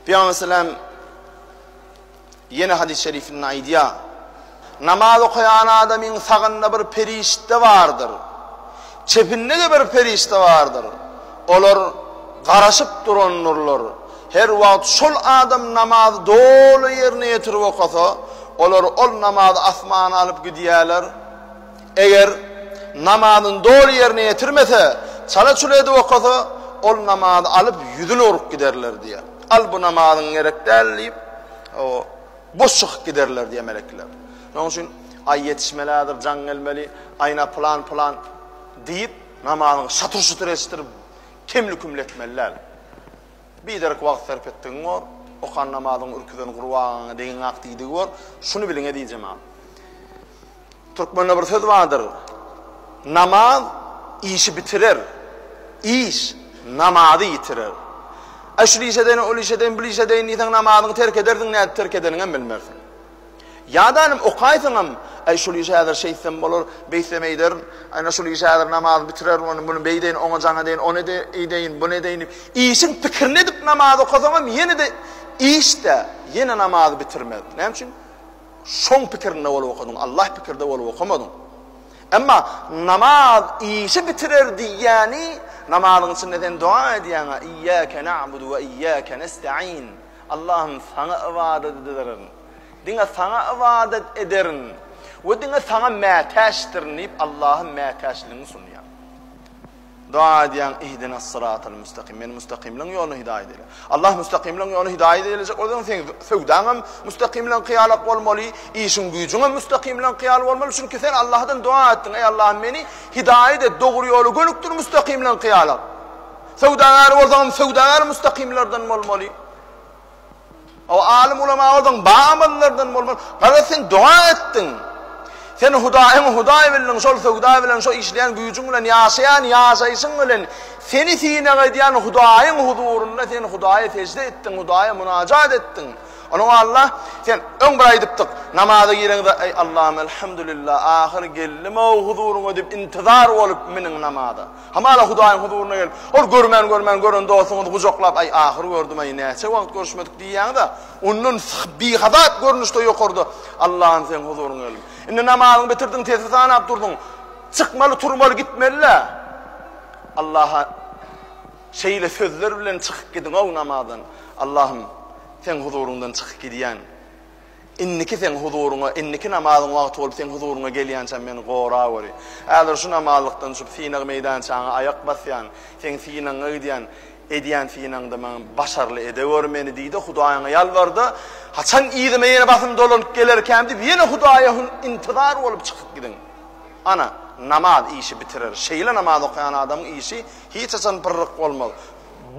Pygamber sallam ýene hadys şerifinde aýdýar. Namaz okaýan adamyň sagynda bir perişde bardyr. Çepinde-de bir perişde bardyr. Olar garaşyp durandyrlar. Her wagt şol adam namazy doly ýerine ýetirip okasa, olar ol namazy asmana alyp gidýärler. Eger namazyny doly ýerine ýetirmese, çala-çula edip okasa, ol namazy alyp, ýüzüni urup giderler diýýär. Al, bu namazyň gerek däl diýip, boş çykyp giderler diýýär melekeler. Şonuň üçin Aý ýetişmelidir, jaň gelmeli, Aýna pylan-pylan diýip, namazyňy şatyr-şutyr eşitdirip, kemli-kümli etmeli däl. Biderek wagt sarp etdigiň bor, okan namazyňy ürküzen gurbagaňa degiňak diýdigi bor. Şuny biliň, eziz jemagat. Türkmende bir söz bardyr, Namaz işi bitirer, iş namazy ýitirer. Äý şul işe deýin, ol işe deýin, bul işe deýin diýseň namazyňy terk edersiň, nädip terk edeniňem bilmersiň. Ýa-da inim okaýsyňam, Äý şul işi häzir şeýtsem bolar, beýtsem eýderin, ana şul işi häzir namazy bitirerin, ony muny beýdeýin, oňa jaň edeýin, ony eýdeýin, buny edeýin diýip, işiň pikirini edip namaz okasaňam ýene-de iş-dä, ýene namazy bitirmez. Näme üçin? Şoň pikirinde bolup okadyň, Allah pikirde bolup okamadyň. Emma namaz işi bitirer diýýäni, namazyň içinde sen doga edýäň-a, Iýýäke na'budu we iýýäke nesta'in. Allahym, saňa ybadat ederin. Diňe saňa ybadat ederin we diňe saňa mätäçdirin diýip, Allaha mätäçligiňi sunýaň. Doga edýäň ihdinas syratal müstakim meni müstakimligiň ýoluna hidaýat eýle. Allah müstakimligiň ýoluna hidaýat eýlejek bolsaň seň söwdaň hem müstakimligiň kyýalak bolmaly, işiň güýjüň hem müstakimligiň kyýal bolmaly çünki sen Allahdan doga etdiň eý Allahym meni hidaýat et dogry ýola gönükdir müstakimligiň kyýalak. Söwdagär bolsaňam söwdagär müstakimlerden bolmaly. O alym ulama ozaň ba amalylardan bolmaz. Garaz sen doga etdiň. Sen Hudaýyňy Hudaý bildiň, şol söwda bilen, şo işleýän güýjüň bilen, ýaşaýan ýaşaýşyň bilen, seni synag edýän Hudaýyň huzurynda sen Hudaýa sežde etdiň, Hudaýa munajat etdiň. Onuň Alla, sen öň bir aýdypdyk, namaza gireňde, Eý Allahym, elhamdulillah, ahyr geldim-ow huzuryňa diýip intizar bolup miniň namaza. Hamala Hudaýyň huzuryna gelip, ol görmän görmän gören dostuňyzy gujaklap, Aý, ahyr gördüm-aý, näçe wagt görüşmedik diýýäňiz-ä, ondan bihazat görnüşde ýokarda Allahym Seň huzuryňa geldim. Indi namazyňy bitirdiň, tesbi sanap durdyň. Çykmaly, turmaly, gitmeli-le. Allaha şeýle sözler bilen çykyp gidiň-ow namazdan, Allahym, Seň huzuryňdan çykyp gidýän. Indiki seň huzuryňa, indiki namazyň wagty bolup seň huzuryňa gelýänçäm meni goragöri. Häzir şu namazlykdan düşüp synag meýdançaňa aýak basýan, seň synagyňa gidýän, edýän synagyňda maňa başarly edeweri meni diý-de Hudaýyňa ýalbar-da, haçan yzyma ýene basym dolanyp gelerkäm diýip ýene Hudaýa hüň intizar bolup çykyp gidiň. Ana, namaz işi bitirer. Şeýle namaz okaýan adamyň işi hiç haçan pyrryk bolmaz.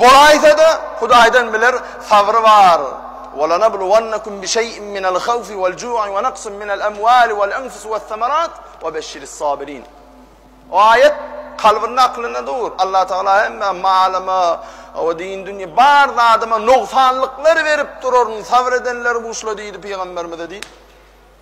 Bolaýsa-da, Hudaýdan biler, sabry bar, Welanabluwannakum bişeý'in minel hawfi welju'i wenaqsin minel emwali welenfusi wessemarat webeshirissabirin. O aýat kalbynda aklynda dur, Allah Tagala hemme malyma we din dünýä bar zadyma nogsanlyklar berip duraryn, sabr edenleri buşla diýdi pygamberimize diýip.